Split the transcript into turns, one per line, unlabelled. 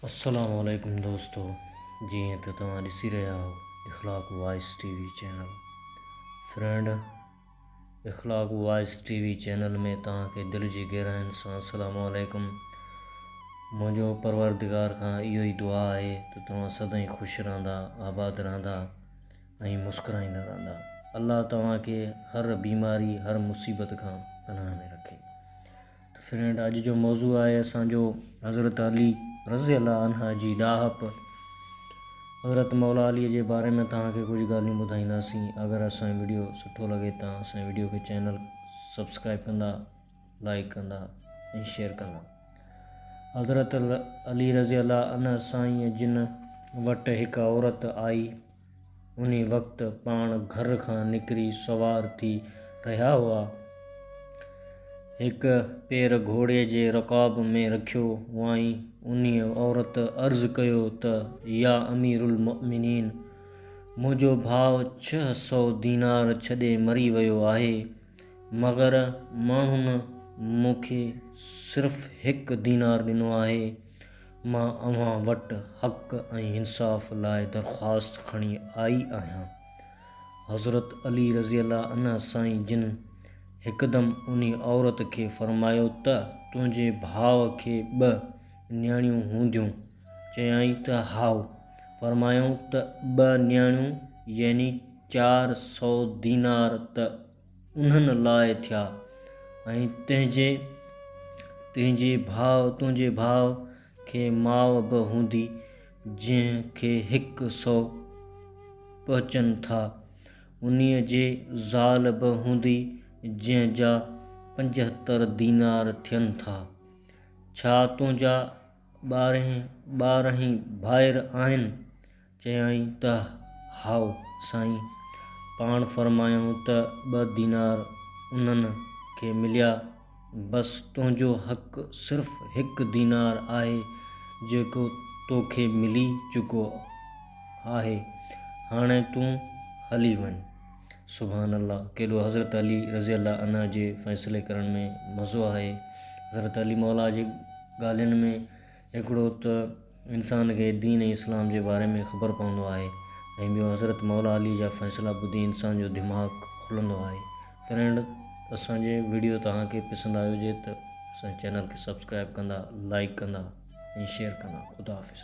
السلام عليڪم دوستو جيئن ته توهان ڏسي رهيا آهو Akhlaq voice T V channel friend Akhlaq voice T V channel ۾ توهان کي دل جي گهراين سان السلام عليڪم منهنجو پروردگار کان اهو ئي دعا آهي ته توهان سدائين خوش رهندا آباد رهندا ۽ مسڪرائيندا رهندا الله توهان کي هر بيماري هر مصيبت کان پناهه ۾ رکي ته فرينڊ اڄ جو موضوع آهي اسان جو حضرت علي رضي الله عنه جي ڏاهپ حضرت مولا علي جي باري ۾ توهان کي ڪجهه ڳالهيون ٻڌائينداسين اگر اسان جي ويڊيو سٺو لڳي ته اسان جي ويڊيو کي چينل سبسڪرائب ڪندا لائڪ ڪندا ۽ شيئر ڪندا حضرت علي رضي الله عنه سائين جن وٽ هڪ عورت آئي انهي وقت پاڻ گهر کان نڪري سوار ٿي رهيا هئا. هڪ پير گهوڙي جي رڪاب ۾ رکيو هئائين. انهي عورت عرض ڪيو ته يا امير المؤمنين! منهنجو ڀاء ڇهه سؤ دينار ڇڏي مري ويو آهي، مگر ماڻهن مون کي صرف هڪ دينار ڏنو آهي. مان اوهان وٽ حق ۽ انصاف لاء درخواست کڻي آئي آهيان. حضرت علي رضي الله عنه سائين جن هڪدم انهي عورت کي فرمايو ته تنهنجي ڀاء کي ٻه نياڻيون هونديون؟ چيائين ته هائو. فرمايائون ته ٻه نياڻيون يعني چار سؤ دينار ته انهن لاء ٿيا ۽ تنهنجي تنهنجي ڀاء تنهنجي ڀاء کي ماء به هوندي جنهن کي هڪ سو پهچن ٿا انهيء جي زال به هوندي جنهن جا پنجهتر دينار ٿين ٿا ڇا تنهنجا ٻارهين ٻارهين ڀائر آهن؟ چيائين ته هائو سائين، پاڻ فرمايائون ته ٻه دينار انهن کي مليا، بس تنهنجو حق صرف هڪ دينار آهي، جيڪو تو کي ملي چڪو آهي، هاڻي تون هلي وڃ. سبحان الله! ڪيڏو حضرت علي رضي الله عنه جي فيصلي ڪرڻ ۾ مزو آهي. حضرت علي مولا جي ڳالهين ۾. هڪڙو ته انسان کي دين ۽ اسلام جي باري ۾ خبر پوندو آهي ۽ ٻيو حضرت مولا علي جا فيصلا ٻڌي انسان جو دماغ کلندو آهي فرينڊ اسان جي ويڊيو توهان کي پسند آئي هجي ته اسان جي چينل کي سبسڪرائيب ڪندا لائيڪ ڪندا ۽ شيئر ڪندا خدا حافظ.